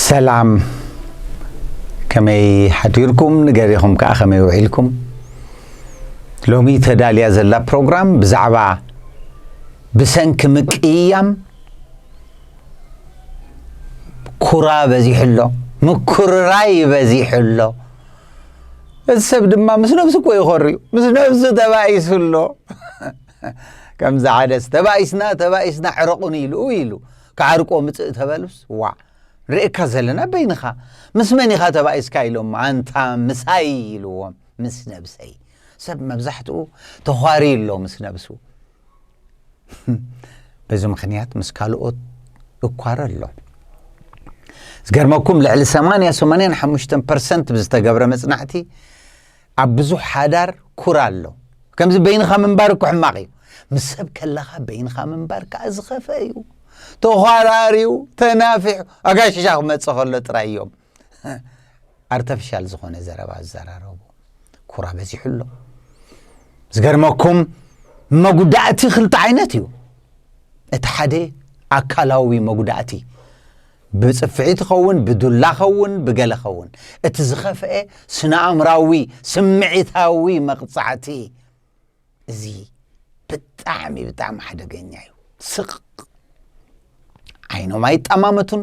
ሰላም ከመይ ሓዲርኩም ንገሪኹም ከዓ ከመይ ውዒልኩም ሎሚ ተዳልያ ዘላ ፕሮግራም ብዛዕባ ብሰንኪ ምቅይያም ኩራ በዚሑ ኣሎ ምኩርራይ በዚሑ ኣሎ እዚ ሰብ ድማ ምስ ነብሱ እኮ ይኾርዩ ምስ ነብሱ ተባኢሱ ኣሎ ከምዚ ዓደስ ተባኢስና ተባኢስና ዕረቑኒ ኢሉ ኢሉ ክዓርቆ ምፅእ ተበሉስ ዋዕ ርእካ ዘለና በይንኻ ምስ መን ኢኻ ተባኢስካ ኢሎም ኣንታ ምሳይ ኢልዎም ምስ ነብሰይ ሰብ መብዛሕትኡ ተዃሪ ኣሎ ምስ ነብሱ በዚ ምክንያት ምስ ካልኦት እኳረ ኣሎ ዝገርመኩም ልዕሊ 8 85 ፐርሰንት ብዝተገብረ መፅናዕቲ ኣብ ብዙሕ ሓዳር ኩራ ኣሎ። ከምዚ በይንኻ ምንባር እኮ ሕማቕ እዩ። ምስ ሰብ ከለኻ በይንኻ ምንባር ከኣ ዝኸፈ እዩ። ተዃራሪው ተናፊሑ ኣጋሽሻ ክመጽእ ከሎ ጥራይ እዮም ኣርተፊሻል ዝኾነ ዘረባ ዝዘራረቡ። ኩራ በዚሑ ኣሎ። ዝገርመኩም መጉዳእቲ ክልተ ዓይነት እዩ። እቲ ሓደ ኣካላዊ መጉዳእቲ ብጽፍዒ ትኸውን ብዱላ ኸውን ብገለ ኸውን እቲ ዝኸፍኤ ስነኣእምራዊ ስምዒታዊ መቕጻዕቲ እዚ ብጣዕሚ ብጣዕሚ ሓደገኛ እዩ ስቕ ዓይኖም ኣይጠማመቱን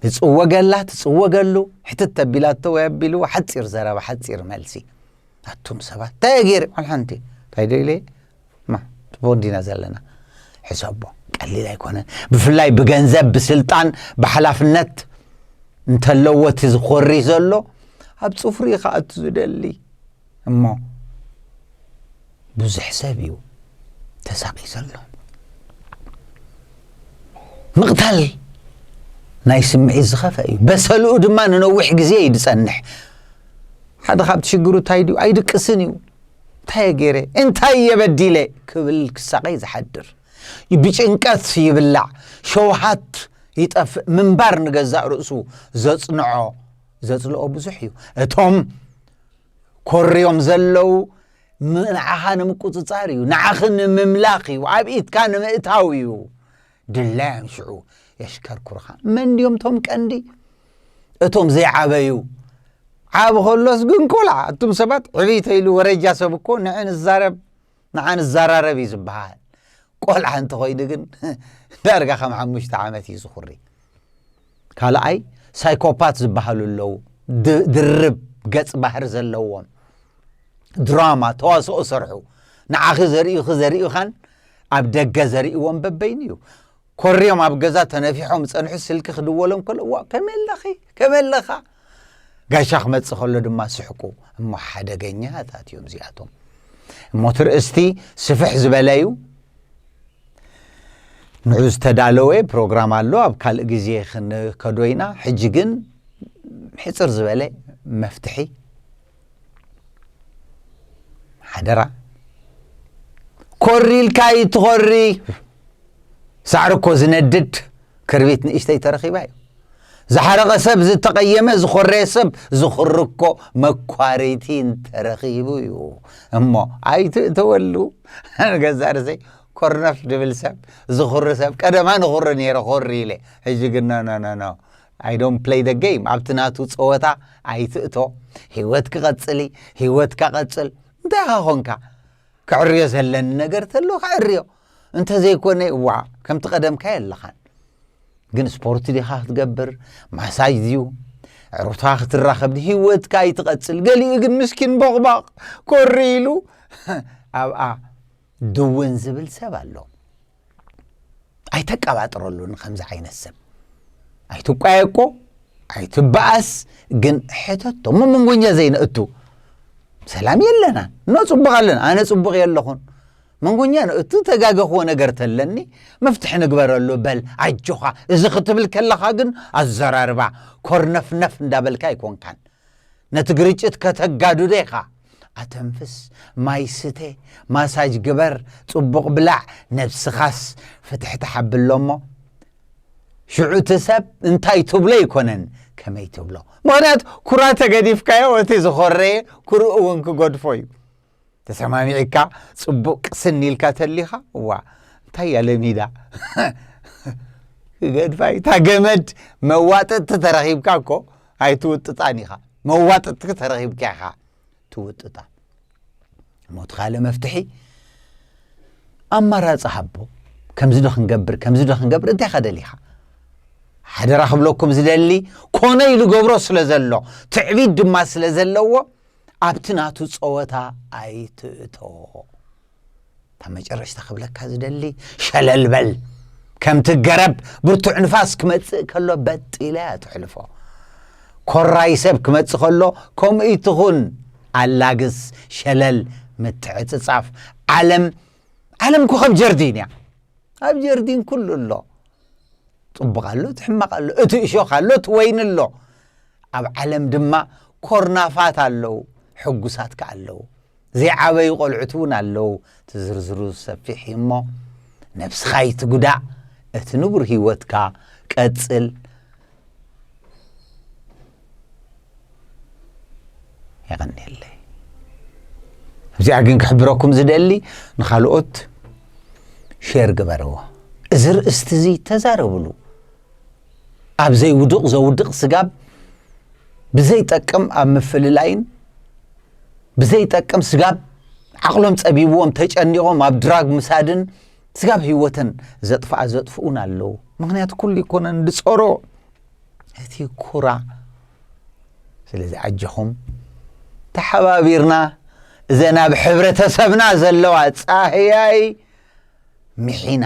ንጽወገላ ትጽወገሉ ሕትት ተቢላቶ ወይ ኣቢሉ ሓጺር ዘረባ ሓጺር መልሲ ኣቱም ሰባት እንታይ ገይረ ዋላ እንታይ ዶ ኢለ እማ ጽቡቕ እንዲና ዘለና ሕሰቦ ቀሊል ኣይኮነን ብፍላይ ብገንዘብ ብስልጣን ብሓላፍነት እንተለዎ እቲ ዝኾሪ ዘሎ ኣብ ፅፍሪ ከኣቱ ዝደሊ እሞ ብዙሕ ሰብ እዩ ተሳቂ ዘሎ ምቕታል ናይ ስምዒት ዝኸፈ እዩ በሰልኡ ድማ ንነዊሕ ግዜ እዩ ዝፀንሕ ሓደ ካብቲ ሽግሩ እንታይ ድዩ ኣይድቅስን እዩ እንታይ እየ ገይረ እንታይ እየ በዲለ ክብል ክሳቐ እዩ ዝሓድር ብጭንቀት ይብላዕ ሸውሃት ይጠፍእ ምንባር ንገዛእ ርእሱ ዘጽንዖ ዘጽልኦ ብዙሕ እዩ እቶም ኮርዮም ዘለው ንዓኻ ንምቁፅፃር እዩ ንዓኺ ንምምላኽ እዩ ኣብ ኢትካ ንምእታው እዩ ድላዮም ሽዑ የሽከርኩርኻ መን ድዮም ቶም ቀንዲ እቶም ዘይዓበዩ ዓብ ከሎስ ግን ቆልዓ እቱም ሰባት ዕብይ ተኢሉ ወረጃ ሰብ እኮ ንዕ ንዛረብ ንዓ ንዘራረብ እዩ ዝበሃል ቆልዓ እንተኾይኑ ግን ዳርጋ ከም ሓሙሽተ ዓመት እዩ ዝኹሪ ካልኣይ ሳይኮፓት ዝበሃሉ ኣለዉ ድርብ ገጽ ባህር ዘለዎም ድራማ ተዋስኦ ሰርሑ ንዓኺ ዘርእዩኺ ዘርእዩኻን ኣብ ደገ ዘርእዎም በበይኑ እዩ ኮርዮም ኣብ ገዛ ተነፊሖም ጸንሑ ስልኪ ክድወሎም ከሎ ዋ ከመይ ኣለኺ ከመይ ኣለኻ ጋሻ ክመጽእ ከሎ ድማ ስሕቁ እሞ ሓደገኛታት እዮም እዚኣቶም እሞ ትርእስቲ ስፍሕ ዝበለ እዩ ንዑ ዝተዳለወ ፕሮግራም ኣሎ ኣብ ካልእ ግዜ ክንከዶ ኢና ሕጂ ግን ሕፅር ዝበለ መፍትሒ ሓደራ ኮሪልካ ይትኾሪ ሳዕሪ እኮ ዝነድድ ክርቢት ንእሽተይ ተረኺባ እዩ ዝሓረቐ ሰብ ዝተቐየመ ዝኾረየ ሰብ ዝኽሪ እኮ መኳሪቲ እንተረኺቡ እዩ እሞ ኣይትእተወሉ ገዛ ርሰይ ኮርነፍ ድብል ሰብ ዝኽሪ ሰብ ቀደማ ንኽሪ ነይረ ኮሪ ኢለ ሕጂ ግን ኖኖኖኖ I don't play the game ኣብቲ ናቱ ጸወታ ኣይትእቶ ሂወት ክቐጽል እዪ ሂወትካ ቀጽል እንታይ ኢኻ ኮንካ ክዕርዮ ዘለኒ ነገር ተሎ ክዕርዮ እንተዘይኮነ ዋ ከምቲ ቀደምካ የለኻን ግን ስፖርት ዲኻ ክትገብር ማሳጅ ድዩ ዕሩታ ክትራኸብ ድ ሂወትካ ይትቐጽል ገሊኡ ግን ምስኪን ቦቕባቕ ኮሪ ኢሉ ኣብኣ ድውን ዝብል ሰብ ኣሎ ኣይተቀባጥረሉ ንከምዚ ዓይነት ሰብ ኣይትቋየቆ ኣይትበኣስ ግን ሕተቶ እሞ መንጎኛ ዘይነእቱ ሰላም የለና እኖ ፅቡቅ ኣለና ኣነ ፅቡቅ የለኹን መንጎኛ ነእቱ ተጋገኽዎ ነገር ተለኒ መፍትሒ ንግበረሉ በል ኣጆኻ እዚ ክትብል ከለኻ ግን ኣዘራርባ ኮርነፍነፍ እንዳበልካ ኣይኮንካን ነቲ ግርጭት ከተጋድዶ ኢኻ ኣተንፍስ፣ ማይ ስተ፣ ማሳጅ ግበር፣ ጽቡቕ ብላዕ፣ ነብስኻስ ፍትሕትሕ ኣብሎ'ሞ ሽዑ'ቲ ሰብ እንታይ ትብሎ ኣይኮነን ከመይ ትብሎ። ምኽንያቱ ኩራ ተገዲፍካዮ እቲ ዝኾረየ ኩርኡ እውን ክገድፎ እዩ። ተሰማሚዕካ ጽቡቕ ቅስን ኢልካ ተሊኻ እዋ እንታይ እያ ለሚዳ ገድፋይ እታ ገመድ መዋጥጥቲ ተረኺብካ እኮ ኣይትውጥጣን ኢኻ መዋጥጥኪ ተረኺብኪ ኢኻ ትውጥጣ እሞ እቲ ካልእ መፍትሒ ኣማራፂ ሃቦ ከምዚ ዶ ክንገብር ከምዚ ዶ ክንገብር እንታይ ኢኻ ደሊኻ ሓደራ ክብለኩም ዝደሊ ኮነ ኢሉ ገብሮ ስለ ዘሎ ትዕቢት ድማ ስለ ዘለዎ ኣብቲ ናቱ ፀወታ ኣይትእተዎ እታ መጨረሽታ ክብለካ ዝደሊ ሸለል በል ከምቲ ገረብ ብርቱዕ ንፋስ ክመጽእ ከሎ በጥ ኢላ እያ ትሕልፎ ኮራይ ሰብ ክመጽእ ከሎ ከምኡ ትኹን ኣላግስ ሸለል ምትዕጽጻፍ ዓለም ዓለም እኮ ከም ጀርዲን እያ ኣብ ጀርዲን ኩሉ ኣሎ ፅቡቕ ኣሎ እቲ ሕማቕ ኣሎ እቲ እሾኽ ኣሎ እቲ ወይኒ ኣሎ ኣብ ዓለም ድማ ኮርናፋት ኣለዉ ሕጉሳት ከ ኣለዉ ዘይዓበዩ ቆልዑት እውን ኣለው እቲ ዝርዝሩ ሰፊሕ እዩ እሞ ነብስኻ ኣይትጉዳእ እቲ ንቡር ሂወትካ ቀጽል የቀኒየለይ እዚኣ ግን ክሕብረኩም ዝደሊ ንካልኦት ሼር ግበርዎ እዚ ርእስቲ እዚ ተዛረብሉ ኣብ ዘይውዱቕ ዘውድቕ ስጋብ ብዘይጠቅም ኣብ ምፍልላይን ብዘይጠቅም ስጋብ ዓቕሎም ጸቢብዎም ተጨኒቖም ኣብ ድራግ ምሳድን ስጋብ ህይወተን ዘጥፍኣ ዘጥፍኡን ኣለዉ ምክንያቱ ኩሉ ይኮነን ድጸሮ እቲ ኩራ ስለዚ ኣጀኹም ተሓባቢርና እዘን ኣብ ሕብረተሰብና ዘለዋ ጻህያይ ምሒና